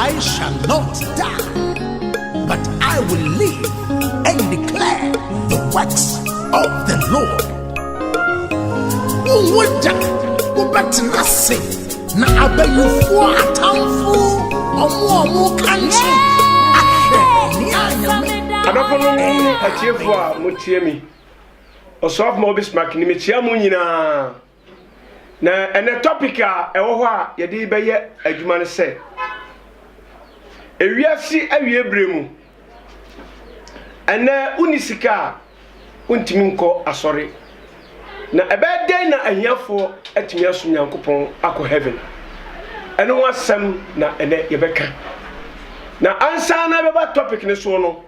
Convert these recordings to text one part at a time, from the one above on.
I shall not die, but I will live and declare the works of the Lord. Wowɔgya wobɛtena ase na abayifoɔ atamfo ɔmo ɔmo ka nso ahwɛ ne anyame. Adɔfonom ne atiefoɔ a motie me, ɔsoafo ma obi smak ne mekyia mo nyinaa. Na ɛnɛ topic a ɛwɔ hɔ a yɛde bɛyɛ adwuma no sɛ ewiase awie bere mu. Ɛnɛ wonni sika a wontumi nkɔ asɔre. Na ɛbɛyɛ dɛn na ahiafoɔ atumi asom Nyankopɔn akɔ heaven? Ɛno ho asɛm na ɛnɛ yɛbɛka. Na ansa na ɛbɛba topic no soɔ no,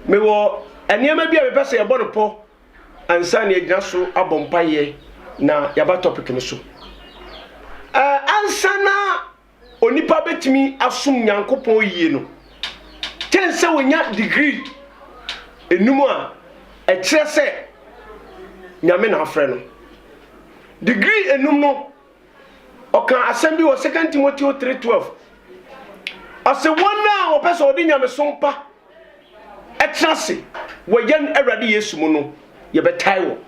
mewɔ nneɛma bi a mepɛ sɛ yɛbɔ no pɔ ansa na yɛagyina so abɔ mpaeɛ na yɛaba topic no so. Uh, ansa na onipa bɛtumi asom Nyankopɔn yie no, kyɛn sɛ wɔnya degree enum a ɛkyerɛ sɛ Nyame na afrɛ no. Degree enum no, ɔka asɛm bi wɔ 2 Timoteo 3:12. Ɔse wɔn a wɔpɛ sɛ wɔde nyamesom pa ɛtena ase wɔ yɛn Awurade Yesu mu no, yɛbɛtae wɔn.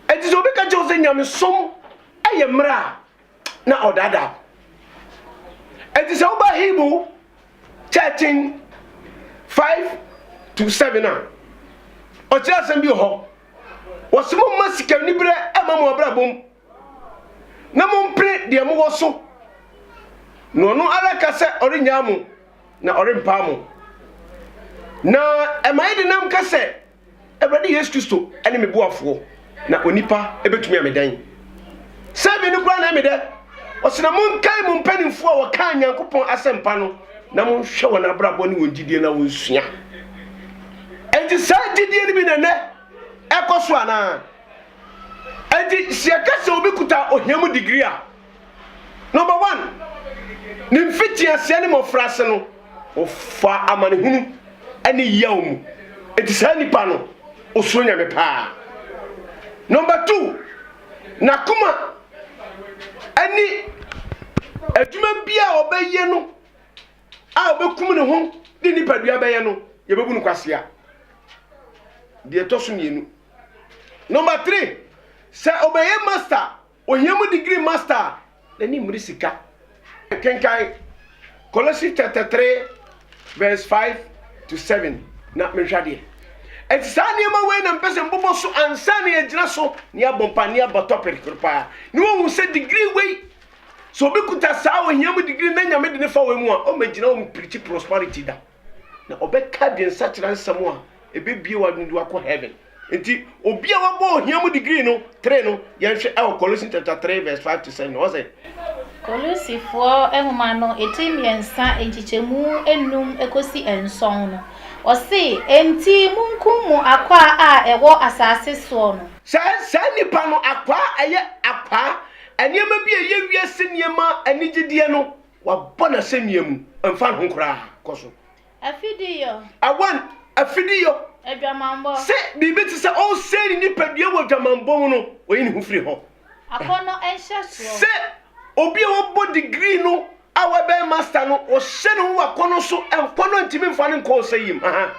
Enti sɛ obi ka kyerɛ wo sɛ nyamesom yɛ mmara a, na ɔdaadaa wo. Enti sɛ woba Hebrew 13, 5 to 7 a, ɔkyerɛ asɛm bi wɔ hɔ. Wɔse momma sikaniberɛ mma mo abrabɔ mu. na mompene deɛ mowɔ so, na ɔno ara ka sɛ ɔrennyaa mo, na ɔrempaa mo. Na ɛma yɛ denam ka sɛ, Awurade Yesu Kristo ne me boafoɔ, na onipa bɛtumi ame dɛn? Sɛ me no koraa na ɛme dɛ! Ɔse na monkae mo mpanimfoɔ a wɔkaa Nyankopɔn asɛmpa no, na monhwɛ wɔn abrabɔ ne wɔn gyidie na wɔnsua. Enti saa gyidie no bi na ɛnɛ ɛkɔ so anaa? Enti sɛ yɛka sɛ obi kuta ohia mu digiri a, number one, ne mfitiaseɛ ne mmɔfraase no, ɔfa amanehunu ne yaw mu. Enti saa nipa no, ɔsuro Nyame paa. Number two, n'akoma ne adwuma bi a ɔbɛyɛ no a ɔbɛkum ne ho de nipadua bɛyɛ no, yɛbɛbu no kwasea. Deɛ ɛtɔ so mmienu. Number three, sɛ ɔbɛyɛ master a, ohia mu degree master a, n'ani mmere sika. Kenkan Colossians chapter three verse five to seven na menhwɛ adeɛ. Ɛti saa nneɛma wei na mpɛ sɛ mbobɔ so ansa na yɛgyina so ne abɔ mpa ne abɔ topic koro paa ne wɔhu sɛ degree wei sɛ obi kuta saa ohia mu degree na nyame de ne fa wei mu a ɔmɛgyina wɔn pirikyi prosperity da. na ɔbɛka adwensakyera nsɛm a ɛbɛbie w'adwene de wakɔ heaven. Nti, obi a wabɔ ohia mu degree no, three no, yɛnhwɛ ɛwɔ Colossians chapter 3 verse 5 to 7 no, ɔsɛ. Kolosifoɔ nwoma no etiri mmiɛnsa nkyekyɛmu nnum kɔsi nson no, ɔse, Enti monkum mo akwaa a ɛwɔ asase soɔ no. Sɛ saa nnipa no, akwaa, ɛyɛ akwaa, nneɛma bi a ɛyɛ wiase nneɛma anigyedeɛ no, Wabɔ no asɛnnua mu. Ɛmfa ne ho koraa. Kɔ so. Afideyɔ. Awan, afideyɔ. Adwamammɔ. Sɛ biribi te sɛ ɔresɛe ne nipadua wɔ adwamammɔ mu no, ɔyi ne ho firi hɔ. Akɔnnɔ nhyɛsoɔ. Sɛ obi a wabɔ degree no a wabɛyɛ master no, ɔhyɛ ne ho wɔ akɔnnɔ so, nkɔnnɔ ntumi mfa no nkɔ ɔsɛe mu. Aha.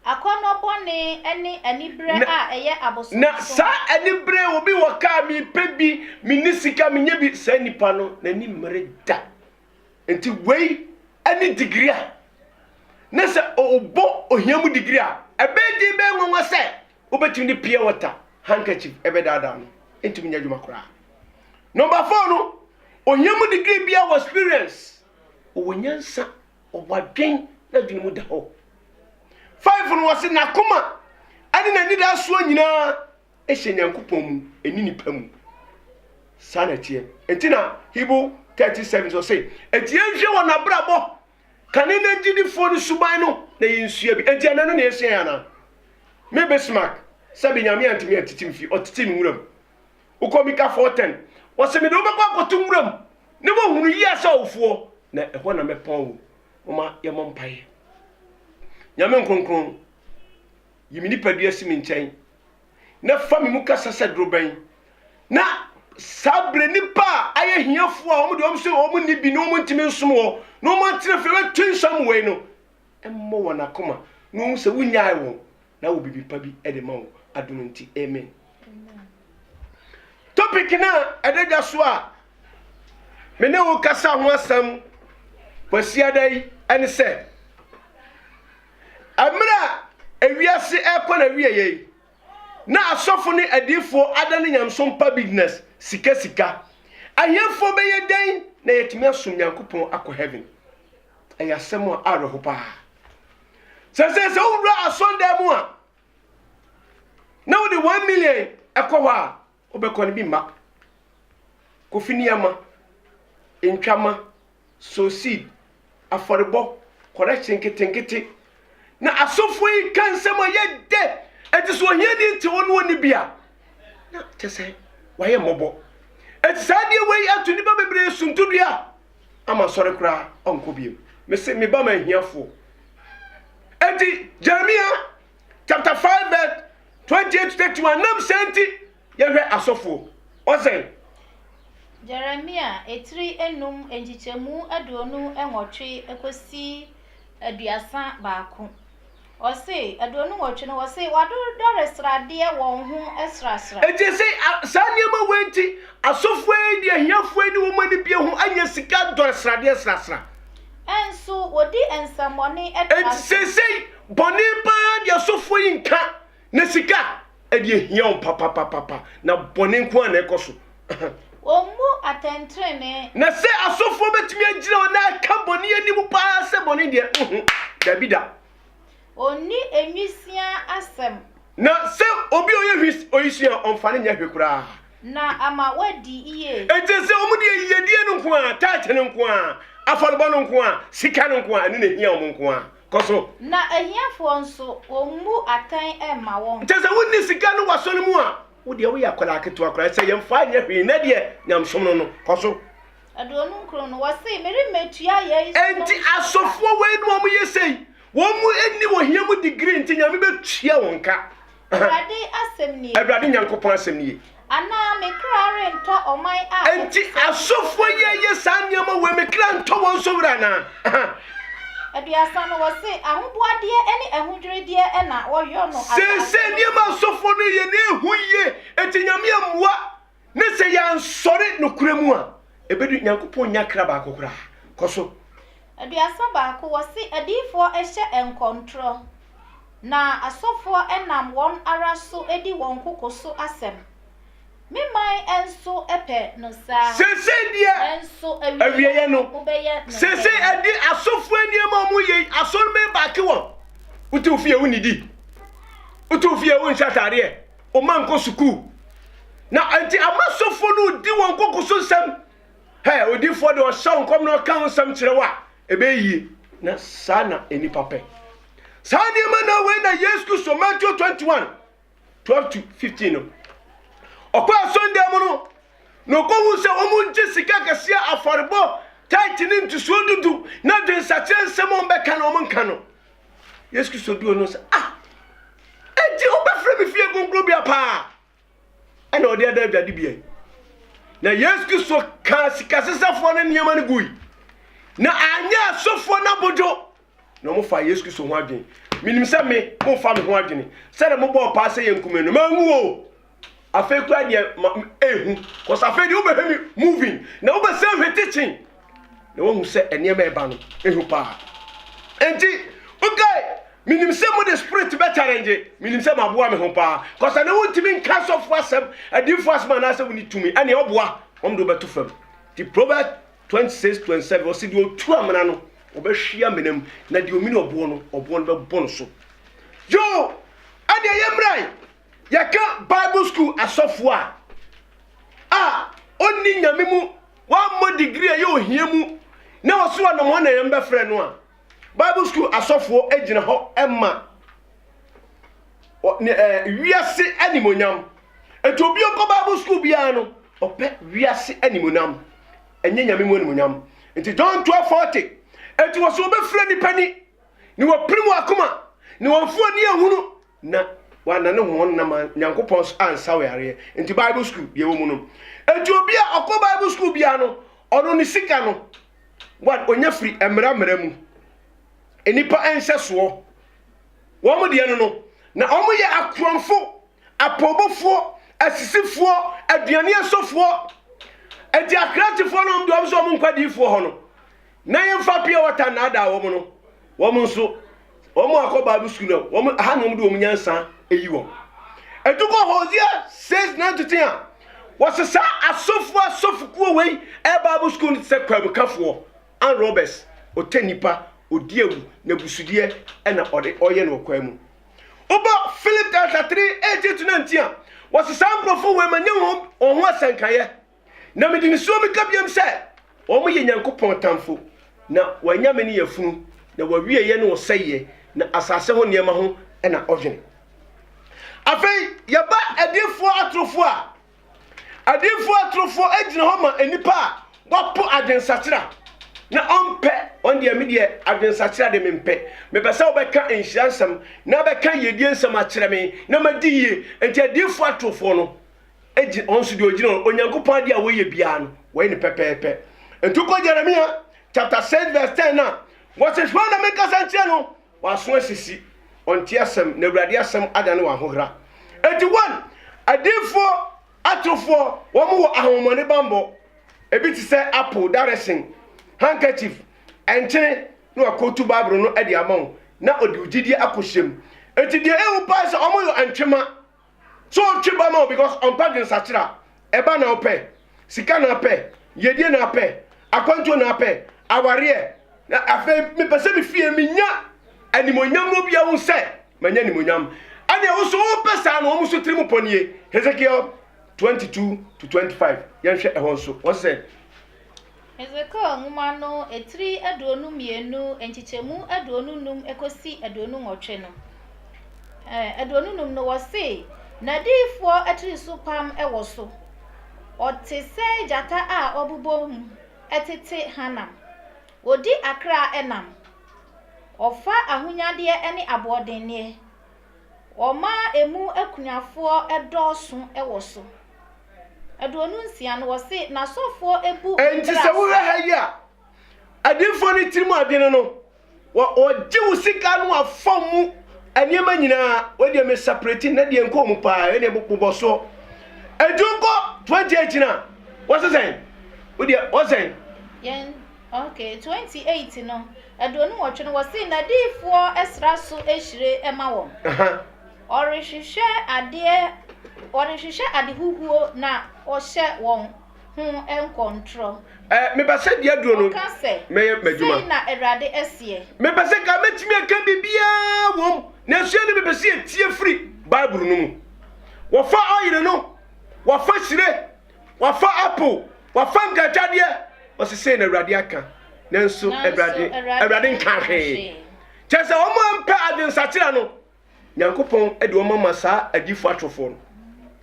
Akɔnnɔ bɔne ne anibere a ɛyɛ abosonoso. Na saa anibere, obi wɔ kaa, mepɛ bi, menni sika, menyɛ bi, saa nipa no, n'ani mmere da. Nti wei ne digiri a, na sɛ ɔbɔ ohia mu digiri a, ɛbɛyɛ den, ɛbɛyɛ nwanwa sɛ wobɛtumi de pure water handkerchief ɛbɛdaadaa no. Ɛntumi nyɛ adwuma koraa. Number four no, ohia mu digiri biara wɔ experience, ɔwɔ nyansa. ɔwadwen n'adwene mu da hɔ five no wɔse n'akoma ɛne n'anidasoɔ nyinaa ɛhyɛ nyankopɔn mu ɛni nipa mu saa na ɛteɛ ɛti na hibo 37 so se ɛti yɛnhwɛ wɔ n'abrabɔ kane na gyidifoɔ no suban no na yɛnsua bi ɛti ɛnɛ no na yɛsua yɛ anaa me bismark sɛ benyame antumi atitim fi ɔtete no nwura mu Wokɔ Mika 4:10, ɔse, Mede wo bɛkɔ akɔto nwuram, na woahunu yea sɛ ɔwofoɔ, na ɛhɔ na mɛpɔn wo. Momma yɛmmɔ mpaeɛ. Nyame Nkronkron, yi me nipadua si me nkyɛn, na fa me mu kasa sɛ dorobɛn, na saa berɛ nnipa a ayɛ hiafoɔ a wɔn deɛ wɔn nso wɔn nni bi na wɔn ntumi nsom wɔ na wɔn atena fie bɛto nsa mu wei no, mmɔ wɔn akoma na wɔn sɛ wonyae wɔn na wɔ biribi pa bi de ma wɔn adom nti amen topic no a ɛda dwa so a me ne wo kasa ho asɛm kwasiada yi ɛne sɛ mmerɛ a ewiase ɛkɔ na wie yɛ yi na asɔfo ne adiifoɔ ada ne nyamsom pa business sika sika ahemfoɔ bɛyɛ dɛn na yɛtumi asom nyankopɔn akɔ heaven Ɛyɛ asɛm a awerɛho paa. Sɛ sɛ sɛ wowura asɔndan mu a na wode one million ɛkɔ hɔ a wobɛkɔ no bi mma. Kofi nneɛma, ntwama, soseed, afɔrebɔ, kɔrɛkye nketenkete. Na asɔfoɔ yi ka nsɛm a yɛ dɛ. Ɛte sɛ ohiani nte hɔ no ɔni bi a na kyɛ sɛ wayɛ mmɔbɔ. Ɛte saa adeɛ wei ato nnipa bebree suntudua. ama asɔre koraa ɔnkɔ bio mese me ba ma ahiafoɔ enti Jeremia chapter 5 verse 28 31 nam sɛ nti yɛhwɛ asɔfoɔ ɔsɛn Jeremia etiri enum nkyekyɛmu aduonu nwɔtwe ekosi aduasa baako. Ɔse, Aduonu nwɔtwe no, wɔse wɔadodɔre sradeɛ wɔn ho srasra. Enti ese saa nneɛma wei nti asɔfoɔ yi de ahiafoɔ yi ne wɔn anibie ho anya sika dɔre sradeɛ srasra. Nso wɔdi nsɛmmɔne tra so. Enti seesei bɔne paa de asɔfoɔ yi nka Na sika ɛde ahia wɔn papapapapa, na bɔne nko ara na ɛkɔ so. Wɔmmu atɛntrenee. Na sɛ asɔfoɔ bɛtumi agyina hɔ na aka bɔne anim pa ara sɛ bɔne deɛ, nhu, dabi da. Wɔnni nwisiaa asɛm. Na sɛ obi a ɔyɛ hwis, ɔyisua a, ɔmfa no nyɛ hwe koraa. Na ama wɔadi yie. Enti sɛ wɔn deɛ yiyedie no nko ara, tithe no nko ara, afɔrebɔ no nko ara, sika no nko ara, ɛno na ɛhia wɔn nko ara. Kɔ so. Na ahiafoɔ nso, wɔmmu atɛn mma wɔn. Kyerɛ sɛ, wonni sika no w'aso no mu a, wo deɛ woyɛ akwadaa ketewa koraa, sɛ yɛmfa nyɛ hwee, nnɛ deɛ, nyamesom no no. Kɔ so. Aduonu nkron no, wɔsee, Meremmɛtua yei so nom sika. Enti asɔfoɔ weinom a wɔyɛ sei, wɔn nni ohia mu degree nti, Nyame bɛtua wɔn ka. Awurade asɛm nie. Awurade Nyankopɔn asɛm nie. Anaa me kra rentɔ ɔman a ɛte Enti sɛ asɔfoɔ yi yɛ saa nneɛma wei me kra ntɔ wɔn nso werɛ anaa? Aha. Aduasa no wɔse ahoboadeɛ ne ahodwirideɛ na wɔyɔ no asase Seesei no nneɛma a so. asɔfoɔ no yɛ no ɛhu yie. Enti Nyame ammua. Na sɛ yɛansɔre nokorɛ mu a, ɛbɛdu Nyankopɔn nnya kra baako koraa. Kɔ so. Aduasa baako, wɔse adiyifoɔ hyɛ nkɔntorɔ, na asɔfoɔ nam wɔn ara so di wɔn koko so asɛm. Me man nso pɛ no saa. Seesei deɛ, Nanso awieɛ awieɛ no, no, wobɛyɛ no seesei dɛn? ɛde asɔfoɔ nneɛma a wɔyɛ yi, asɔre bɛbake wɔn. Wote wo fie a wonnidi. Wote wo fie a wonhyɛ ataadeɛ. Wɔn ankɔ sukuu. Na nti ama sɔfo no di wɔn koko so nsɛm. Hɛ, odifoɔ de ɔhyɛ wo nkɔm na ɔka ho nsɛm kyerɛ wo a, ɛbɛyɛ yie. Na saa na nnipa pɛ. Saa nneɛma na wei na Yesu Kristo, Matthew 21, 12 to 15 no. Ɔkɔ asɔndan mu no, na ɔkɔhu sɛ wɔn ngye sika kɛseɛ afɔrebɔ, tithe ne ntosoɔ dudu, na dwensakyerɛ nsɛm a wɔbɛka na wɔn nka no. Yesu Kristo duu no sɛ ah enti wobɛfrɛ me fie kronkronbea paa ɛna ɔde ada adwade bia na Yesu Kristo kaa sikasesafoɔ no nneɛma no gui na anyɛ asɔfoɔ no abodwo na wɔfa Yesu Kristo ho adwene menim sɛ me mofa me ho adwene sɛdeɛ mobɔɔ paa sɛ yɛnkume no manwu o afei kura deɛ ma ehu kɔsɛ afei deɛ wobɛhwɛ mi moving na wobɛsɛ hwɛ teaching na wahu sɛ nneɛma ɛba no ehu paa nti wokae menim sɛ mo de spirit bɛ challenge menim sɛ maboa me ho paa kɔsɛ na wontumi nka sɔfo asɛm adiifo asɛm anaasɛ woni tumi ɛne ɔboa wɔn de wobɛto fam ti proverb 26 27 ɔsi deɛ otu amena no ɔbɛhwe amena mu na deɛ omini ɔboɔ no ɔboɔ no bɛbɔ no so yoo ɛdeɛ yɛ mmeran Yɛka Bible School asɔfo a, a onni Nyame mu, wammɔ degree a ɛyɛ ohia mu, na ɔso anam hɔ na yɛn bɛfrɛ no a, Bible School asɔfoɔ gyina hɔ ma wiase animonyam. Ɛti obi ɔkɔ Bible School biara no, ɔpɛ wiase animonyam, ɛnyɛ Nyame mu animonyam. Ɛti John 12:40, ɛti wɔso wɔbɛfrɛ nipa ni, ne wɔpere mu akoma, ne wɔmfoɔ ni ahunu, na wɔanane hɔn nnam a Nyankopɔn so ansa wo yareɛ nti Bible school deɛ wɔ mu no nti obi a ɔkɔ Bible school biara no ɔno ne sika no wɔn ɔnya firi mmara mmara mu nnipa nhyɛsoɔ wɔn deɛ no no na wɔn yɛ akorɔmfo apɔbɔfoɔ asisifoɔ aduane asɔfoɔ ɛti akrantefoɔ no wɔn deɛ wɔn nso wɔn nkɔ adiifoɔ hɔ no Na yɛmfa pure water nnaadaa wɔn no, wɔn nso, wɔn akɔ Bible school no, wɔn aha na wɔn de wɔn nyansa eyi wɔn. Edukɔ Hosea says nine to ten a, wɔsesa asɔfo asɔfokuo wei ɛyɛ Bible school no te sɛ kwabukafoɔ, and robbers, ɔtɛ nipa, ɔdi awu, na busudeɛ ɛna ɔde ɔyɛ no ɔkwan mu. Wobɔ Philip chapter three eighteen to nineteen a, wɔsesa nkurɔfo wei ma nyɛ wɔn wɔn ho asɛnkaeɛ. Na mede nisuo meka biom sɛ, Wɔn yɛ Nyankopɔn tamfo, na wɔanya me ne yafunu, na wɔawieɛ ne ɔsɛeɛ, na asase ho nneɛma ho na ɔdwene. Afei yɛba adiyifoɔ atorofoɔ a, adiyifoɔ atorofoɔ gyina hɔ ma nnipa a wɔpo adwensakyera, na ɔmpɛ, wɔn deɛ me deɛ adwensakyera de mempɛ, mepɛ sɛ wobɛka nhyira nsɛm, na bɛka yiedie nsɛm akyerɛ me, na madi yie, enti adiyifoɔ atorofoɔ no. gye ɔnso deɛ ɔgyina hɔ Onyankopɔn adeɛ a wɔyɛ biara no wɔyɛ ne pɛpɛɛpɛ nti kɔ Jeremia chapter 6 verse 10 a wɔse hwan na menkasa nkyerɛ no waso asisi ɔnte asɛm na awurade asɛm ada ne wahohera enti wɔn adiifoɔ atorofoɔ wɔn wɔ ahomɔne bambɔ ebi te sɛ apple direction handkerchief ɛnkyene na wakɔtu bible no de ama wo na ɔde wo gyidie akɔhyɛm enti deɛ ɛwu paa sɛ wɔn yɛ ntwema So ɔtwe ba ma wo because ɔmpɛ dwensakyera? Ɛba na ɔpɛ, sika na apɛ, yɛdie na apɛ, akwantuo na apɛ, awareɛ. Na afei mepɛ sɛ me fie menya animonyam na obia hu sɛ manya animonyam. Ɛneɛ wo so wopɛ saa no wɔn so tiri mu pɔ nie. Hezekiel 22 to 25 yɛnhwɛ ɛhɔ nso wɔn sɛ Hesekiel nwoma no atiri aduonu mmienu, nkyekyɛmu aduonu nnum kɔsi aduonu nwɔtwe no, ɛɛ aduonu nnum no, wɔse, N'adiyifoɔ atirisopam wɔ so. Ɔte sɛ gyata a ɔbobom tete hanam. Ɔdi akra nam. Ɔfa ahonyadeɛ ne aboɔdenneɛ. Wɔmaa emu akunafoɔ dɔɔso wɔ so. Aduonu nsia no, wɔse n'asɔfoɔ bu mmara so. Enti sɛ wohwɛ ha yi a, adiyifoɔ no tirim adwene no, wɔ, wɔgye wo sika no afa mu nneɛma nyinaa, wei deɛ me separate na deɛ nkɔ mu paa, wei deɛ bobɔ soɔ. Enti wokɔ 28 no a, wɔse sɛn? Wo deɛ, wɔse sɛn? Yɛn. Ok, twenty eight no, aduonu nwɔtwe no, wɔsi n'adiifoɔ sra so hyire ma wɔn. Ɔrehwehwɛ adeɛ, ɔrehwehwɛ ade huhuo na ɔhyɛ wɔn ho nkɔntorɔ. Ɛ mepɛ sɛ deɛ aduro no Ɔka sɛ, mɛyɛ m'adwuma. sei na Awurade seɛ. Mepɛ sɛ ka mɛtumi aka biribiara wom nanso ɛne mepɛ sɛ yɛtie firi Bible no mu. Wɔfa ɔyere no, wɔfa hyire, Wɔafa apple, wɔafa nkagyadeɛ. Wɔsi sei na Awurade aka. Nanso Awurade, Awurade nka hwee. Kyerɛ sɛ wɔn a mpɛ adwensakyera no, Nyankopɔn de wɔn ama saa adifo atorofoɔ no.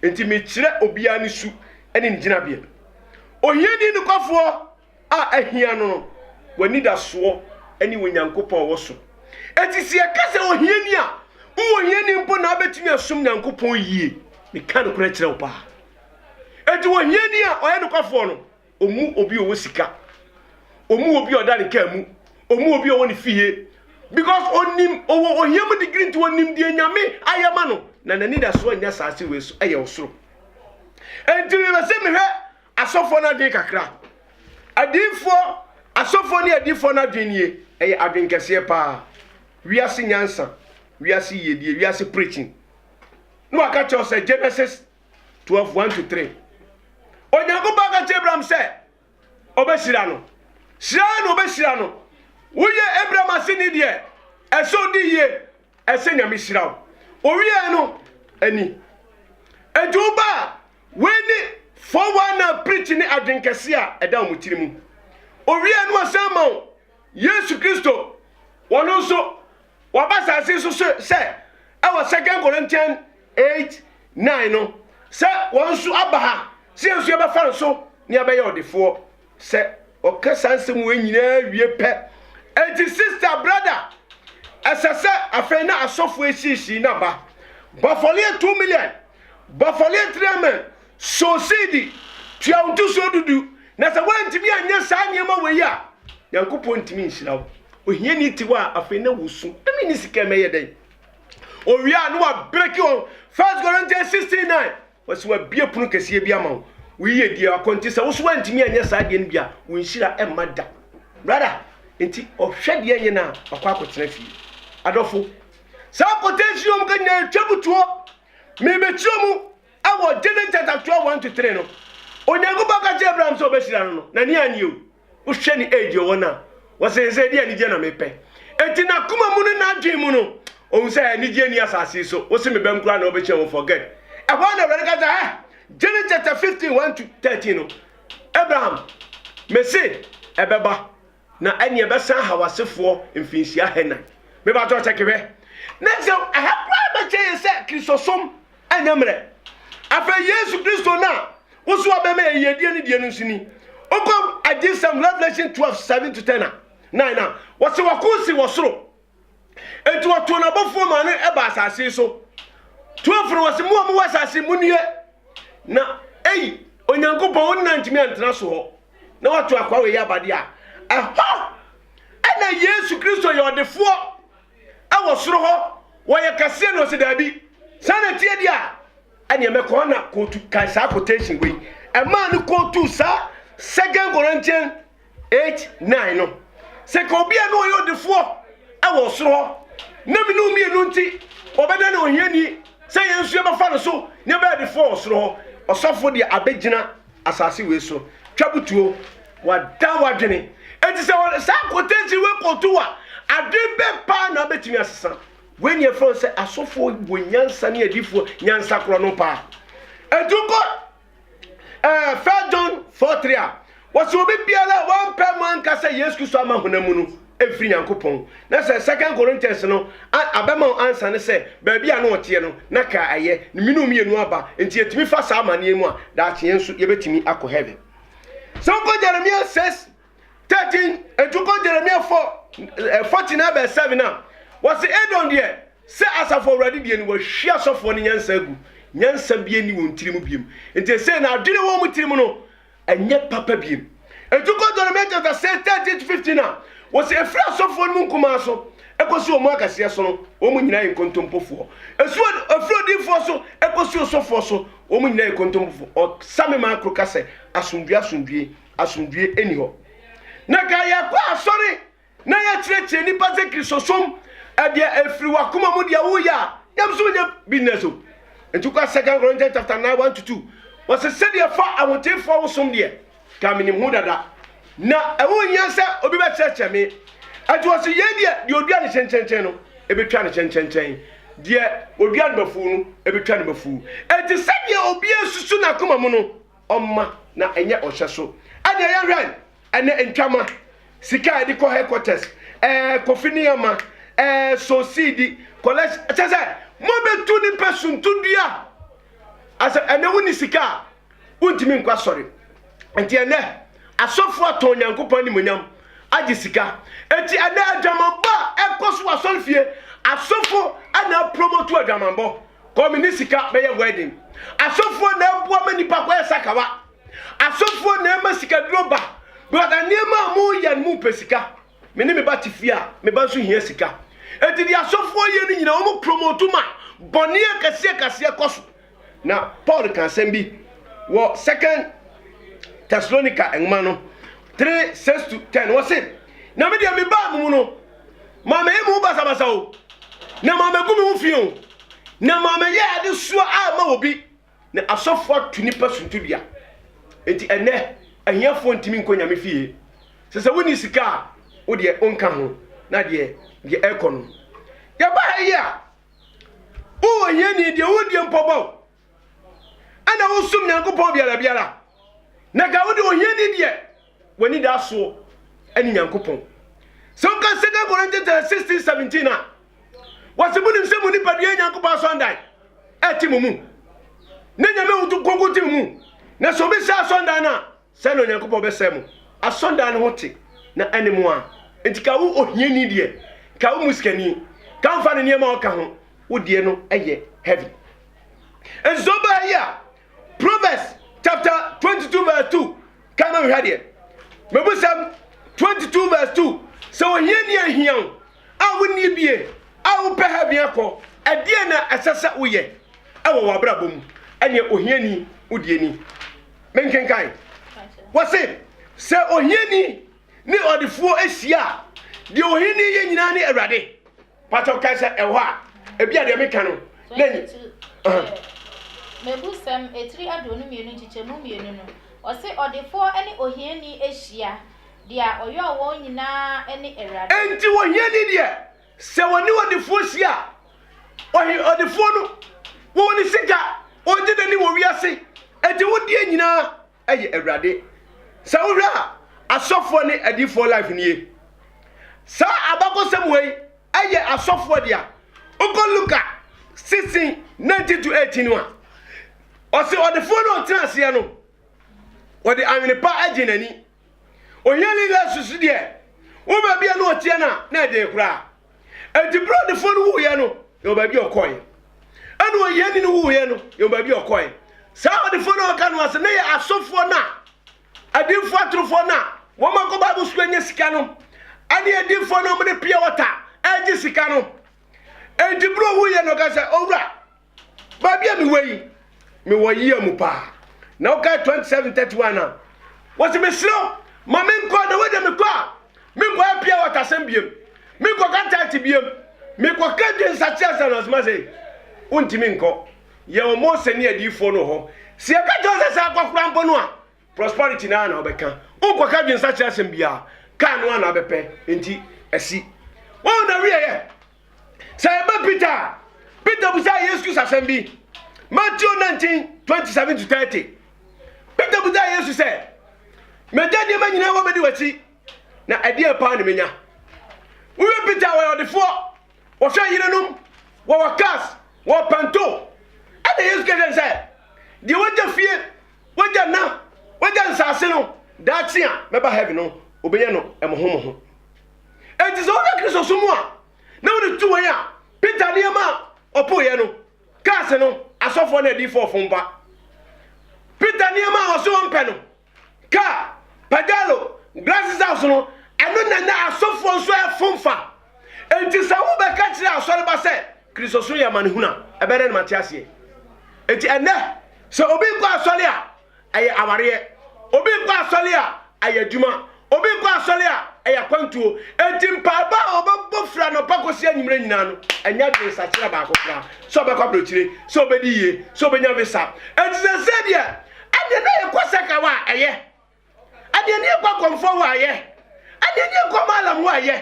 Enti mekyerɛ obiara ne su ne ne gyinabea. Ohiani nokwafoɔ a ahia no no, w'anidasoɔ ne Onyankopɔn wɔ so. Enti sɛ yɛka sɛ ohiani a, wowɔ hiani mpo na abɛtumi asom Nyankopɔn yie. Meka nokorɛ kyerɛ wo paa. Enti wɔ hiani a ɔyɛ nokwafoɔ no, ɔmu obi ɔwɔ sika, ɔmu obi ɔda ne kaa mu, ɔmu obi ɔwɔ ne fie, because ɔnim ɔwɔ ohia mu digiri nti ɔnim deɛ Nyame ayɛ ma no, na n'anidasoɔ nyɛ asase wei so, ɛyɛ ɔsoro. Enti mepɛ sɛ mehwɛ Asɔfoɔ no adwene kakra. Adiyifoɔ, asɔfoɔ ne adiyifoɔ no adwene nie, ɛyɛ adwene kɛseɛ paa. Wiase nyansa, wiase yiedie, wiase preaching. Ne waka kyerɛ wo sɛ Genesis 12, 1 to 3. Onyankopɔn aka kyerɛ Abraham sɛ ɔbɛhyira no. Hyira na ɔbɛhyira no. Woyɛ Abraham aseni deɛ, ɛsɛ odi yie. ɛsɛ nyame hyira wo owiee no ani adwoo ba a wei ne 419 preach ne adwen kɛse a ɛda wɔn tiri mu owiee no ɔsan ma wo yesu kristo wɔn nso waba saase so sɛ ɛwɔ second corinthian 8 9 no sɛ wɔn nso aba ha sɛ yɛn nso yɛbɛfa nso ne abɛyɛ ɔdefoɔ sɛ ɔka saa nsɛm wɔ nyinaa wie pɛ ɛnti sister brother ɛsɛ sɛ afei na asɔfo esiesie na ba bɔfɔleɛ two million bɔfɔleɛ three million sosidi tua ntusuo dudu na sɛ wɔntumi anyɛ saa nneɛma wɔ yi a nyankopɔn ntumi nhyira wo ohia ni ti wa afei na wusu ɛmi ni sika mɛyɛ dɛn owia no wa break on first corinthians 16 9 Wɔsi wabue pono kɛseɛ bi ama wo. Wo yiyedie yɛ akɔnti. Sɛ wo so wantumi anyɛ saa deɛ no bi a, wo nhyira mma da. Brother, nti ɔhwɛ deɛ nyɛ no a, wakɔ akɔtena fie. Adɔfo, saa quotation yi wɔn ka nyinaa ɛtwa mu toɔ. Merebɛkyerɛ mu wɔ Genesis chapter 12, 1 to 3 no. Onyankopɔn ka kyerɛɛ Abraham sɛ ɔbɛhyira no no, n'ani annye o. wohwɛ ne age ɔwɔ no a wɔsɛ yɛn sɛ ɛde anigye na mepɛ enti n'akoma mu no n'adwen mu no ɔhu sɛ anigye ni asase so wo se mebɛm koraa na wobɛkyɛ wo forget ɛhɔ a na awurade ka sɛ ɛ Genesis chapter 15 1 to 13 no Abraham mese ɛbɛba na ɛne ɛbɛsan ha wasefoɔ mfinhyia hɛnan mebatɔ sɛ kehwɛ na sɛ ɛha koraa bɛkyɛ yɛ sɛ kristosom ɛnyɛ mmerɛ afei yesu kristo no a woso abɛma yɛ yiedie no deɛ no nso ni wokɔ agyesɛm revelation 12 7 to 10 a 9 a wɔse wɔko si wɔ soro enti wɔtoo n'abɔfoɔ maa no ɛba asase so 12 no wɔse mo a mowɔ asase mu nie na ei onyankopɔn wonna ntumi antena so hɔ na wato akwa wɔ yɛ abade a ɛhɔ ɛna yesu kristo yɛ ɔdefoɔ Ɛwɔ soro hɔ, wɔyɛ kɛseɛ na ɔsi daabi. Saa na ɛteɛ deɛ a, ɛneɛ mɛkɔ hɔ na kootu kae saa quotation wei. Ɛmaa no kootuu saa Second Corinthians 8, 9 no. Sɛ ka obi a na ɔyɛ ɔdefoɔ ɛwɔ ɔsoro hɔ, na mene wo mmienu nti ɔbɛda ne ohiani, sɛ yɛn nso yɛbɛfa no so na yɛbɛyɛ adefoɔ wɔ soro hɔ. Ɔsɔfo deɛ abɛgyina asase wei so twa butuo. Wada w'adwene adi sɛ wɔde saa kotɛnsi wei kɔto wo a, adwene bɛn paa na wobɛtumi asesa? Wei na yɛfrɛ no sɛ asɔfoɔ wɔ nyansa ne adiifoɔ nyansa korɔ no paa. Ɛtu kɔ ɛɛ First John 4:3 a, wɔsɛ obi biara a wampɛ mu anka sɛ Yesu Kristo ama honam mu no mfiri Nyankopɔn. Na sɛ Second Corinthians no a abɛma wo ansa ne sɛ baabi a na ɔteɛ no na ka ɛyɛ ne mmienu mmienu aba. Nti yɛtumi fa saa amanneɛ mu a, daakye yɛn nso yɛbɛtumi akɔ heaven. Sɛ wokɔ Jeremia 6 13 ɛtu kɔ Jeremia 4 14 eh, abɛ 7 a wɔse Edom deɛ sɛ asafo awurade deɛ ni wɔahwi asɔfoɔ no nyansa agu nyansa bie ni wɔn tirim biem nti ɛsɛ na adwene wɔn mu tirim no ɛnyɛ papa biem ɛtu kɔ Jeremia chapter 6 13 to 15 a wɔse ɛfiri asɔfoɔ no mu nkumaa so ɛkɔsi wɔn akaseɛ so no wɔn nyinaa yɛ nkontompofoɔ ɛfiri odiifoɔ so ɛkɔsi osɔfoɔ so Wɔn nyinaa yɛ kontompofo. Ɔsa me maa koro ka sɛ, Asomdwie, asomdwie, asomdwie nni hɔ. Na ka yɛkɔ asɔre na yɛkyerɛkyerɛ nnipa sɛ Kristosom ɛdeɛ ɛfiri wakoma mu deɛ woyɛ a nyamsom nyɛ business o. Nti kɔ Second Corinthians chapter 9 1 to 2 wɔsɛ sɛdeɛ fa ahotefoɔ wosom deɛ ka menim ho dada, na ɛho hia sɛ obi bɛkyerɛkyerɛ me. Ɛnti wɔse yei deɛ, deɛ odua ne kyenkyenkyen no, ɛbɛtwa ne kyenkyenkyen, deɛ odua no bafuu no, ɛbɛtwa ne bafuu. Ɛnti sɛdeɛ obia susu n'akoma mu no, ɔmma na ɛnyɛ ɔhyɛ so. Ɛnneɛ yɛnhwɛ ɛnɛ ntwama, sika a yɛde kɔ headquarters, ɛɛ kofi nneɛma, ɛɛ sosiidi, collection, ɛkyɛ sɛ mobɛtu nipa suntudua. Asɛ ɛnɛ wonni sika a, Wontumi nkɔ asɔre. Nti ɛnnɛ asɔfo atɔn Nyankopɔn animonyam agye sika. Enti ɛnnɛ adwamanbɔ a ɛkɔ so wɔ asɔre fie, asɔfo na apromotu adwamanbɔ. Kɔ me ne sika bɛyɛ wedding. Asɔfo na ɛboa ma nipa kɔyɛ sakawa. Asɔfo na ɛma sikaduro ba. Because nneɛma a moyɛ no mopɛ sika. Me ne me ba te fie a, me ba nso hia sika. Enti deɛ asɔfoɔ yɛ no nyinaa, wɔn promote ma bɔne akɛseɛ akɛseɛ kɔ so. Na Paul ka asɛm bi wɔ Second Thessalonica nwoma no three six to ten. Wɔse, na me deɛ mebaa mo mu no, mammɛyɛ mo ho basabasa o, na mammɛgu me ho fi o, na mammɛyɛ adesoa amma obi. na asɔfo ato nnipa suntidua. Enti ɛnnɛ, ahiafoɔ ntumi nkɔ Nyame fie. Sɛ sɛ wonni sika a, wo deɛ wonka ho, na deɛ deɛ ɛkɔ no. Yɛba ha yi a, wowɔ hiani deɛ wodie mpɔ bɔ, ɛna wosom Nyankopɔn biara biara, na ka wo deɛ ohiani deɛ w'anidaso ne Nyankopɔn. Sɛ woka 2 Corinthians 16 17 a, wɔse monim sɛ mo nipadua Nyankopɔn asɔndan ɛte mo mu na Nyame ahoto kronkron te mo mu na sɛ obɛsɛ asɔndan no a sɛ na Onyankopɔn bɛsɛ mo asɔndan no ho te na ɛne mo a nti ka wo ohiani deɛ ka wo musikani ka mfa ne nneɛma ɔka ho wo deɛ no ɛyɛ heaven nso bɛyɛ Proverbs chapter 22 verse 2 ka ma nhwɛ deɛ mebusɛm 22 vs 2 sɛ ohia ni ahia wo a wonni bie a wopɛ heaven akɔ ɛdeɛ na ɛsɛ sɛ woyɛ ɛwɔ w'abrabɔ mu ɛneɛ ohia ni wodie ni menkenkan wɔse sɛ ohia ni ne ɔdefoɔ ahyia a deɛ ohia ni yɛ nyinaa ne awurade patɔ ka sɛ ɛhɔ a ebi a deɛ meka no na nyi mebu sɛm etiri aduonu mmienu nkyekyɛmu mmienu no ɔse ɔdefoɔ ne ohiani hyia deɛ ɔyɔɔ wɔn nyinaa ne awurade enti ohiani deɛ sɛ wɔne ɔdefoɔ hyia ɔhe ɔdefoɔ no wɔwɔ ne sika ɔgye n'ani wɔ wiase enti wodeɛ nyinaa yɛ awurade sɛ wohwɛ a asɔfoɔ ne adiifoɔ life nie saa abakɔsɛm wei yɛ asɔfoɔ dea wokɔ luka 16 19 to 18 no a ɔse ɔdefoɔ no ɔtena aseɛ no ɔde awene pa agye n'ani ohiani la susu deɛ wo baabi a na ɔteɛ no a na ɛden koraa Enti bere a ɔdefoɔ no wuiɛ no, yɛwɔ baabi a ɔkɔe. Ɛna ohiani no wuiɛ no, yɛwɔ baabi a ɔkɔe. Saa ɔdefoɔ no a ɔka no ase no yɛ asɔfoɔ no a, adiifoɔ atorofoɔ no a wɔn akɔ Bible sukuu anya sika no, ɛne adiifoɔ no a wɔde pia wɔta ɛregye sika no. Enti bere a ɔwuiɛ no, ɔka sɛ, Owura, Baabi a mewɔ yi, mewɔ yea mu paa. Na wokae 2731 a, wɔse mesrɛ wo ma menkɔ na wagya mekɔ a menkɔyɛ pia wɔtasɛm biam, menkɔka taate biam, mekɔka dwensakye asa no asoma sɛ wontumi nkɔ. Yɛwɔ Mose ne adiyifoɔ no wɔ hɔ. Sɛ yɛka kyerɛ wo sɛ saa kɔkora mpo no a, Prosperity no ara na wobɛka. Wonkɔka adwensakyera asɛm biara. Kaa no ara na wobɛpɛ. Enti asi. Wɔn na wieɛ. Sɛ ɛba Peter a, Peter busaa Yesu Kristo asɛm bi. Matthew 19, 27 to 30. Peter busaa Yesu sɛ, Magya nneɛma nyinaa hɔ bɛdi w'akyi, na ɛdeɛ paa na menya? Wowie Peter a wɔyɛ ɔdefoɔ, wɔhwɛ yerenom, wɔwɔ cars, wɔwɔ panto. Ɛna Yesu kɛsɛ sɛ, deɛ wagya fie Wagya nna, wagya nsase no, daakye a mɛba heaven no, obɛyɛ no ɛmoho moho. Enti sɛ wohwɛ Kristo so mu a, na wode tu wɔn a Peter deɛ ma ɔpoeɛ no, kaa se no, asɔfoɔ ne adiifoɔ fompa. Peter nneɛma a ɔse ɔmpɛ no, kaa, pagalo, glasses house no, ɛno na na asɔfoɔ nso ɛfomfa. Enti sɛ wobɛka kyerɛ asɔreba sɛ, Kristosom yɛ amanehunu a, ɛbɛyɛ dɛn na mate aseɛ? Enti ɛnnɛ, sɛ obi nkɔ asɔre a, ɛyɛ awareɛ. Obi nkɔ asɔre a, ɛyɛ adwuma. Obi nkɔ asɔre a, ɛyɛ akwantuo. Enti mpaebɔ a ɔbɛbɔ firi anɔpa kɔsi anwummerɛ nyinaa no, ɛnyɛ adwensakyera baako koraa sɛ ɔbɛkɔ aburokyire, sɛ ɔbɛdi yie, sɛ ɔbɛnya visa. Enti seesei deɛ, ɛnneɛ na yɛkɔ sɛ ka wɔ a, ɛyɛ. Adeɛ ni ɛkɔ akɔmfoɔ hɔ ayɛ Adeɛ ni ɛkɔ maalam hɔ ayɛ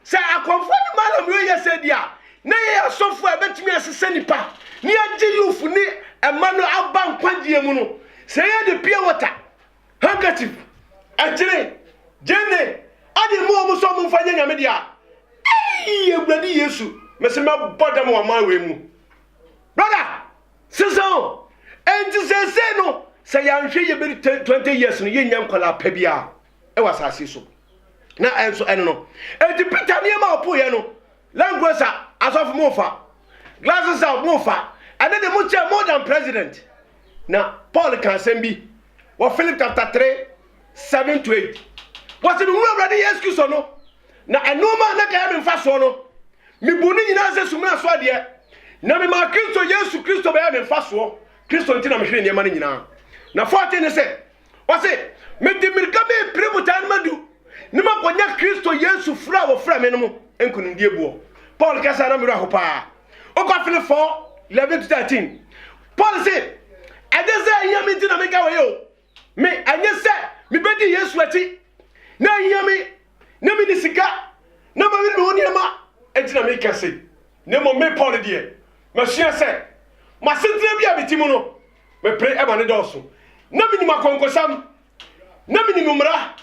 Sɛ akɔmfoɔ ne maalam yɛ yɛ sɛ deɛ a Na yɛyɛ asɔfoɔ a ɛbɛtumi asesa nnipa Ne agye youth ne ɛma no aba nkwagyeɛ mu no Sɛ yɛ de pure water, handkerchief, ɛkyere, gyeene Adeɛ ma wɔn sɛ wɔn mfa nyɛ Nyame deɛ a Eii Awurade Yesu Mese mɛbɔ dam wɔ aman wei mu Brother! Sesaw, Enti seesei no, sɛ yɛanhwɛ yie bɛdu ten twenty years no, yɛnnya nkwadaa pa biara wɔ asase so. Na ɛnso ɛno no, enti Peter nneɛma a ɔpoeɛ no, land cruiser asɔfo mofa, glasses a mofa, ɛne de mokyɛ more than president. Na Paul ka asɛm bi wɔ Philip chapter three. Seven to eight, Wɔsi mi hu Awurade Yesu Kristo no, na ɛnoɔma a na kɛyɛ mi nfasoɔ no, mi bu ne nyinaa sɛ sumina so adeɛ, na mi maa Kristo Yesu Kristo bɛyɛɛ mi nfasoɔ, Kristo nti na mi hwere nneɛma no nyinaa. Na fourteen ne sɛ, Ɔsi, mi de mirika mi pire botaa no ma du, ne ma kɔ nya Kristo Yesu firi a wɔfrɛ mi no mu nkunimdie boɔ. Paul kasa na mi werɛ ho paa. Okɔ fili four, eleven to thirteen, Paul si, ɛnyɛ sɛ ɛhia mi nti na mi ka wei o, Me, ɛnyɛ sɛ mibedi Yesu akyi, na ahia me, na minni sika, na mawere me ho nneɛma nti na meka sei, na mmom me Paulo deɛ, masua sɛ m'asetena bi a mete mu no, mepere ma no dɔɔso, na minim akɔnkɔsam, na minim mmara,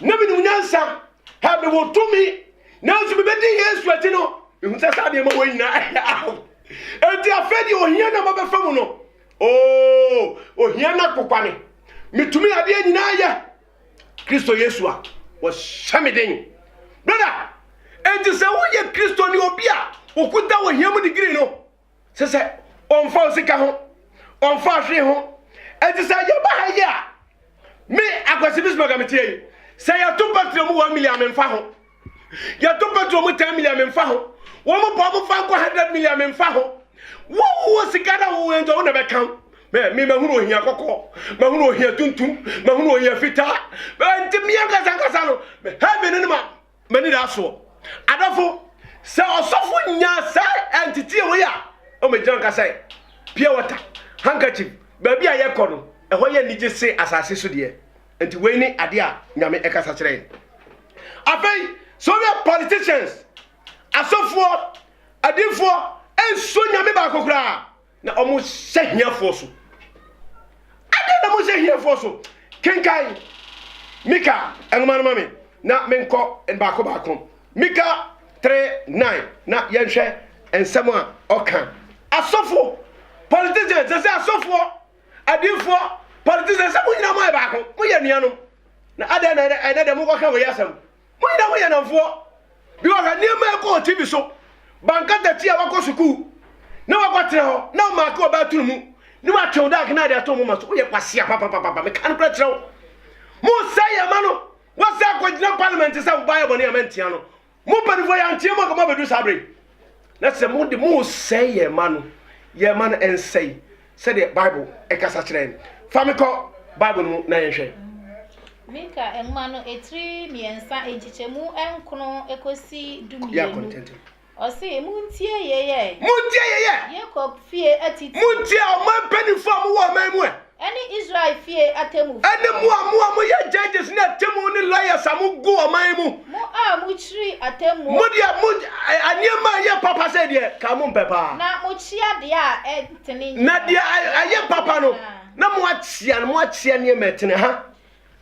na minim nyansa, ha mewɔ tumi, nanso mibedi Yesu akyi no, mihu sɛ saa nneɛma wɔ nyinaa ɛhaw. Enti afei deɛ ohia na mabɛfa mu no, Oh, ohia na kokwane. Metumi adeɛ nyinaa yɛ. Kristo Yesu a, wɔhyɛ me den. Brother, enti sɛ woyɛ Kristo ne obi a okuta wɔ hia mu digiri no, sɛ sɛ ɔmfa osika ho, ɔmfa ahwee ho. Enti sɛ yɛba ha yi a, me akwasi bismaga meteɛ yi, sɛ yɛto pɛtrɛ mu wɔn mili a memfa ho. Yɛto petrol mu ten million memfa ho. Wɔn bɔ wɔn fa nkɔ hundred million memfa ho. Wɔwɔ sika na wɔwɔ nti wɔn na bɛka ho. Mɛ mi mahunu ohia kɔkɔɔ, mahunu ohia tuntum, mahunu ohia fitaa. Mɛ nti mi ankasa ankasa no mɛ heaven no ma m'ani da soɔ. Adɔfo, sɛ ɔsɔfo nya saa nteteɛ wei a, ɔmɛgyina nka sɛ pure water, handkerchief, baabi a yɛkɔ no ɛhɔ yɛ anigye se asase so deɛ. nti wei ne adeɛ a nyame ɛkasa kyerɛ yɛn afei sɛ woyɛ politicians asɔfoɔ adifoɔ ɛnsuo nyame baako koraa na ɔmo hyɛ hiafoɔ so adeɛ na mo hyɛ hiafoɔ so kenkan mika nwoma no ma me na menkɔ baako baako mika 39 na yɛnhwɛ nsɛm a ɔka asɔfo politicians sɛ sɛ asɔfoɔ Adiyifoɔ, politicians sɛ mo nyinaa moayɛ baako, moyɛ anuanom. Na adɛn na ɛnɛ ɛnɛ deɛ mokɔka wei asɛm? Mo nyinaa moyɛ nnamfoɔ. Bi wɔ hɔ nneɛma ɛkɔ wɔ TV so. Bankatati a wakɔ sukuu na wakɔtena hɔ na ɔmaake wɔ bɛɛtono mu ne watwew dark na ade ato mo ma so. Woyɛ kwasea papapapa. Meka nokorɛ kyerɛ wo. Mosɛe yɛn ma no. Woasɛ akɔgyina parliament sɛ wobaayɛ bɔne a mantia no. Mo mpanyinfoɔ yɛanteɛ mu anka mo abɛduru saa bere yi. Na sɛ mo de mo resɛe yɛn mma no, yɛn mma no nsɛe sɛdeɛ Bible ɛkasa kyerɛ yɛn. Fa me kɔ Bible no mu na yɛnhwɛ. Mika nwoma no etiri mmiɛnsa nkyekyɛmu nkron ekosi du mmienu. Ɔsi muntie yeyɛ. Muntie yeyɛ. Yakob fie atitire. Muntie ɔman mpanyinfoɔ a mo wɔ ɔman mu ɛ. Ɛne Israel fie atemmufo. Ɛne mo a mo a moyɛ judges ne atemmu ne lawyers a mogu ɔman mu. Mo a mokyiri atemmuo. Mo deɛ mo nneɛma a ɛyɛ papa sɛ deɛ ka mompɛ paa. Na mokyea deɛ a ɛntene nyinaa. Na deɛ ɛyɛ papa no, na moakyea no, moakyea nneɛma ɛtene ha.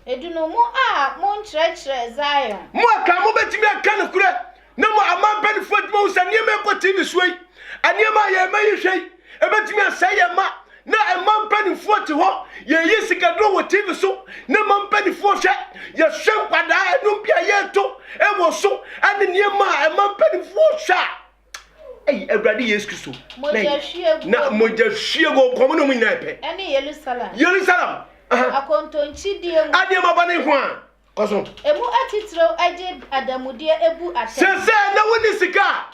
Edu no mo a mo nkyerɛkyerɛ Zion. Mo a kaa mobɛtumi aka nokorɛ na mo aman mpaninfoɔ atumi ahu sɛ nneɛma ɛkɔ tee ne soɔ yi, nneɛma a yɛn mma yi hwɛ yi, ɛbɛtumi asɛe yɛn mma. Na mma mpaninfoɔ te hɔ, yɛyi sikaduro wɔ TV so na mma mpaninfoɔ hwɛ, yɛhwɛ nkwadaa, nnwom bi a yɛreto wɔ so ne nneɛma a mma mpaninfoɔ hwɛ a, Ɛyi Awurade Yesu Kristo. Mogyahwiegu. Na mogyahwiegu nkɔm no mu nyinaa pɛ. Ɛne Yerusalem. Yerusalem. Akontonkyidie mu. Adeɛma ba ne ho a. Kɔ so. Emu atitiriw agye adamudeɛ ebu atɛn. Sɛ sɛ na wonni sika a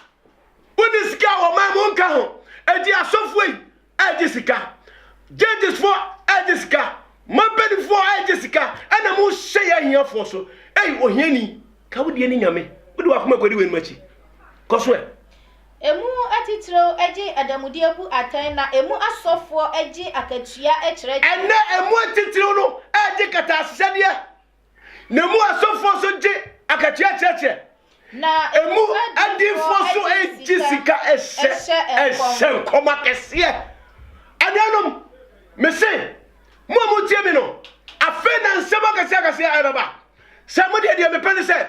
wonni sika a wɔman mu nka ho. Eti asɔfoɔ yi ɛregye sika, gyedisfoɔ ɛregye sika, mapanifoɔ ɛregye sika, ɛna mo hyɛ yɛ ahiafoɔ so. Ei, ohiani, ka wo deɛ ne nyame, wo de wakoma kɔdi w'anim akyi. Kɔ so ɛ. Emu atitiriw gye adanmudeɛ bu atɛn na emu asɔfoɔ gye akatua kyerɛkyerɛ. Ɛnnɛ emu atitiriw no ɛregye kataasehwɛdeɛ. Na emu asɔfoɔ nso gye akatua kyerɛkyerɛ. Na emu adiifoɔ nso gye sika hyɛ nkɔm akɛseɛ. Anuanom, mese mo a motie me no, afei na nsɛm akɛseɛ akɛseɛ ɛbɛba. Sɛ modeɛ deɛ mepɛ ne sɛ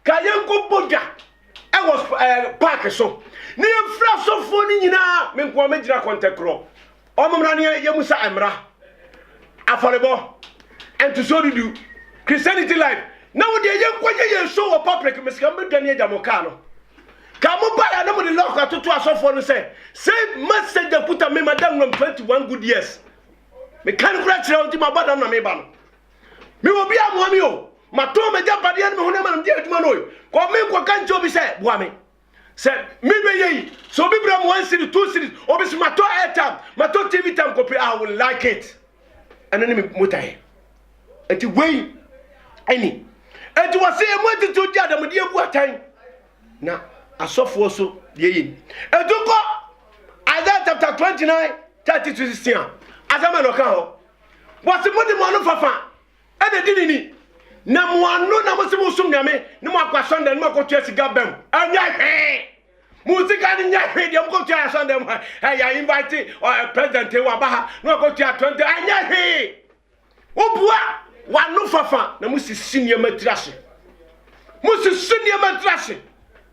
Ka yɛnkɔ bɔ dwa wɔ eh, park so ne yɛmfiri asɔfoɔ no nyinaa me nkoa mɛgyina kɔntɛkorɔ ɔmommra ne yɛmu sa mmra afɔrebɔ ntosoɔ dudu christianity life na wo deɛ yɛnkɔ yɛ yɛn show wɔ public mesika mbɛdwane agya mo kaa no ka mo baeɛ na mode lɔk atoto asɔfoɔ no sɛ sei message akuta me madam nom 21 good years meka no kora kyerɛ wo nti mabɔ dam na meba no Mewɔ obi a mmoa me o. Matɔn m'agyapadeɛ ne me honam a mede adwuma no kɔ me nkɔka nkyɛ obi sɛ boa me. Sɛ mebɛyɛ yi, sɛ obi brɛ me one series, two series, obi sɛ matɔ airtime, matɔ TV time kɔpɛ, I will like it. Ɛno ne me botaeɛ. Nti wei ɛni. Nti wɔse emu atitiriw di adamudeɛ bu atɛn. Na asɔfoɔ so deɛ yɛ ni. Etu kɔ Isaiah chapter 29 thirty to sixteen a asɛm a na ɔka hɔ Wɔse mode mo ano fafa na edi ne ni, na mo ano na mose mosom Nyame, na moakɔ asɔndan no mu akɔtua sika bam. Ɛnyɛ hwee! Mo sika no nyɛ hwee deɛ mokɔtua asɔndan mu ha. Ɛ yɛ invite ɔ eh, president yi waba ha na wakɔtua 20, ɛnyɛ hwee! Wobua w'ano fafa na mosisi nneɛma tiri ase. Mosisi nneɛma tiri ase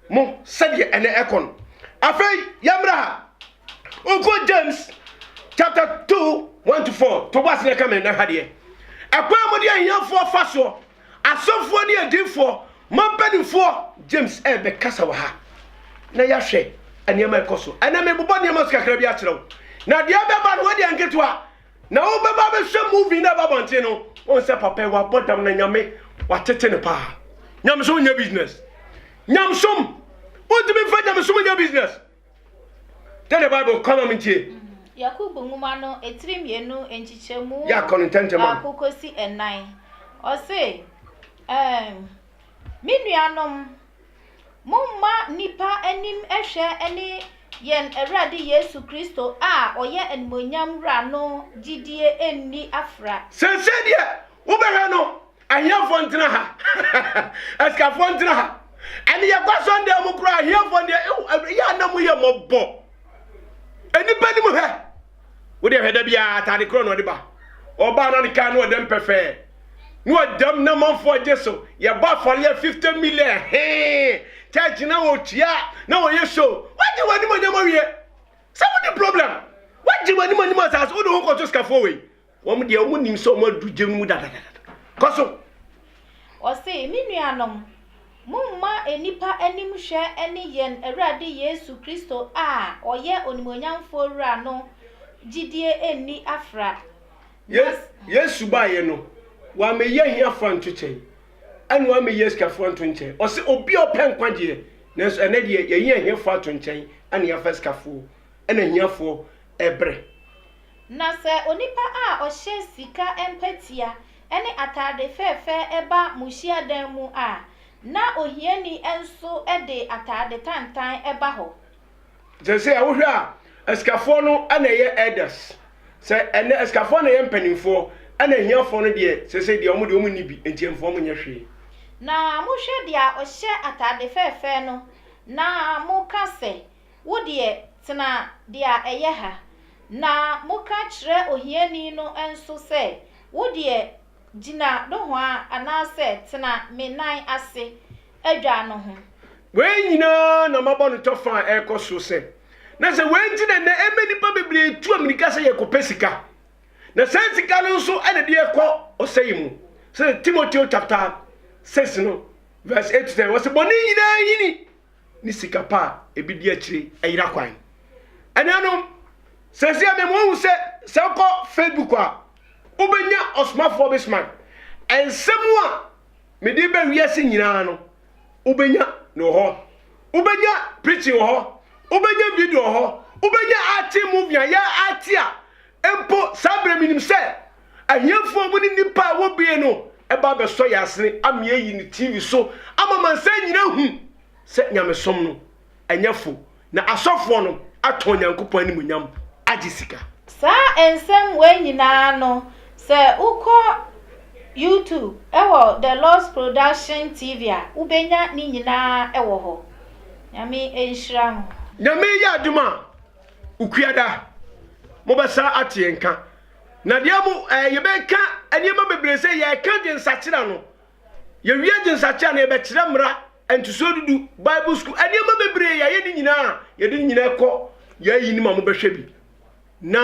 mo sɛdeɛ ɛnɛ ɛkɔ no. Afei yɛmmra ha. Wonkɔ James chapter two one to four to bɔ asene ka me na ha deɛ. Ɛkwan a mode ahiafoɔ fa soɔ, asɔfoɔ ne adiifoɔ, mo mpanimfoɔ, James ɛrebɛkasa wɔ ha na yɛahwɛ nneɛma ɛkɔ so. Ɛnna mebobɔ nneɛma so kakra bi akyerɛ wo. Na deɛ ɛbɛba no wɔde nketewa na wobɛba bɛhwɛ movie na ɛba abɔnten no wɔn sɛ papa yi wabɔ dam na nyame watete no paa. Nyamesom nyɛ business. Nyamesom wontumi mfa nyamesom nyɛ business. Dɛn na Bible ka ma mintie? Yakobo nwoma no etiri mmienu nkyekyɛmu baako kosi nnan. Ɔse, um, me nuanom, momma nnipa anim hwɛ ne yɛn Awurade Yesu Kristo a ɔyɛ animuonyam wura no gyidie nni afra. Seesei deɛ wobɛhwɛ no, Ahiafoɔ ntena ha asikafoɔ ntena ha ɛne yɛkɔ sɔndan mu koraa ahiafoɔ deɛ ɛwɔ yɛ ana mu yɛ mɔbɔ nnipa nim hɛ wodeɛ hwɛ da biara atade korɔ na ɔde ba ɔbaa na ne kaa no ɔdɛm pɛfɛɛ na ɔdɛm na manfoɔ gye so yɛbɔ afɔreɛ 50 million hee church na ɔtua na ɔyɛ so wagye w'anim onyam awie sɛ wode problem wagye w'anim onyam asase wode ho kɔto sikafoɔ wei Wɔn deɛ wɔn nim sɛ wɔn aduru gya no mu dadadada. Kɔ so. Ɔse, Me nuanom, momma nnipa anim hwɛ ne yɛn Awurade Yesu Kristo a ɔyɛ Onimuonyamfoɔ Wura no gyidie nni afra. Na. Yesu baeɛ no, wammɛyi ahiafoɔ anto kyɛn, ɛna wammɛyi asikafoɔ anto nkyɛn. Ɔse, Obi a ɔpɛ nkwagyeɛ, nanso ɛnnɛ deɛ yɛayi ahiafoɔ ato nkyɛn, ɛna yɛafa asikafoɔ, ɛna ahiafoɔ ɛbrɛ. Na sɛ onipa a ɔhyɛ sika mpɛtea ne atade fɛɛfɛ ba mo hyiadan mu a, na ohiani nso de atade tantan ba hɔ. Seesei wohwɛ a, asikafoɔ no na ɛyɛ elders? Sɛ ɛnnɛ asikafoɔ na ɛyɛ mpanimfoɔ, ɛnna ahiafoɔ no deɛ, seesei deɛ, wɔn deɛ, wɔnni bi, enti ɛmfa wɔn nyɛ hwee. Na mohwɛ deɛ ɔhyɛ atade fɛɛfɛ no, na moka sɛ. Wo deɛ, tena deɛ ɛyɛ ha. Na moka kyerɛ ohiani no nso sɛ, Wo deɛ, gyina nohoa anaasɛ tena me nan ase adwa no ho. Wei nyinaa na mabɔ no kyɔfa a ɛrekɔ so sɛ, na sɛ wei nti na nnɛ ɛma nnipa bebree tu ammirika sɛ yɛrekɔpɛ sika, na saa sika no nso na ɛde yɛkɔ ɔsɛe mu. Sɛdeɛ Timoteo chapter 6 no verse 8-10, ɔse, Bɔne nyinaa nyini. ne sika pa a ebi di akyire ayira kwan. Anuanom, sɛsɛ mema wɔhu sɛ sɛ wokɔ Facebook a, wobɛnya ɔsomafoɔ Bismark. Nsɛm a mede bɛ wiase nyinaa no, wobɛnya no wɔ hɔ. Wobɛnya preaching wɔ hɔ, wobɛnya video wɔ hɔ, wobɛnya arte movie a yɛ arte a mpo saa berɛ menim sɛ Ahiafoɔ mu ne nnipa a ɛwɔ bie no ba abɛsɔ yɛn asene ama yɛayi no TV so ama amansan nyina ahu sɛ nyamesom no ɛnyɛ fo na asɔfoɔ no atɔn Nyankopɔn animuonyam agye sika. Saa nsɛm wei nyinaa no, sɛ wokɔ YouTube wɔ The Lord's Production TV a, wobɛnya ne nyinaa wɔ hɔ. Nyame nhyira mo. Nyame yɛ adom a, Okuada, mobɛsan ate yɛn nka. Na deɛ mo ɛɛ yɛbɛka nneɛma bebree sɛ yɛka gyensakyera no yɛwie gyensakyera no yɛbɛkyerɛ mmara ntosoɔ dudu bible school nneɛma bebree yɛayɛ ne nyinaa yɛde ne nyinaa kɔ yɛayi ne ma mo bɛhwɛ bi na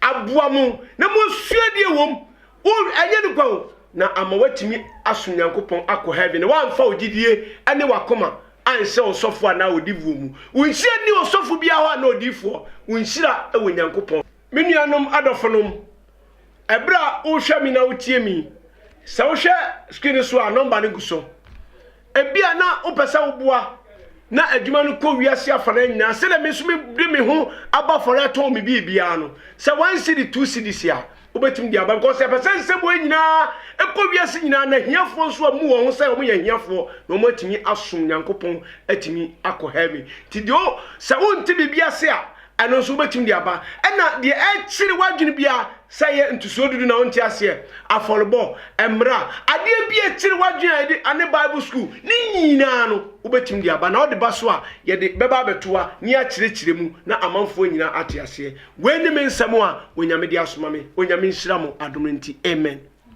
aboa mo na mo asua deɛ wɔm o ɛnyɛ ne kwa o na ama watumi aso nyankopɔn akɔ heaven na wamfa ogyidie ɛne wakoma anhyɛ ɔsɔfo anaa odifoɔ mu wonhyira ni ɔsɔfo biara hɔ anaa odifoɔ wonhyira ɛwɔ nyankopɔn Me nuanom adɔfonom, ɛberɛ a worehwɛ me na wotie me yi, sɛ wohwɛ screen no so a nɔmba no gu so. Ebia na wopɛ sɛ woboa na adwuma no kɔ wiase afanan nyinaa sɛdeɛ me nso mede me ho abɔ afɔre atɔn me biribiara no. Sɛ one cedi, two cedis a, wobɛtumi de aba because yɛpɛ sɛ nsɛm wei nyinaa ɛkɔ wiase nyinaa na ahiafoɔ nso amu wɔn ho sɛ wɔn yɛ ahiafoɔ na wɔn atumi asom Nyankopɔn atumi akɔ heaven. Nti deɛ sɛ wonte biribi ase a Ɛno nso wobɛtumi de aba. Ɛna deɛ ɛkyere w'adwene biara, sɛ ɛyɛ ntosoɔ dudu na wonte aseɛ, afɔrebɔ, mmra, adeɛ bi a ɛkyere w'adwene a yɛde ane bible school, ne nyinaa no wobɛtumi de aba. Na wode ba so a, yɛde bɛba abɛto ha na yɛakyerɛkyerɛ mu na amanfoɔ nyinaa ate aseɛ. Wei ne me nsɛm a Onyame de asoma me. Onyame nhyira mo adom no nti. Amen.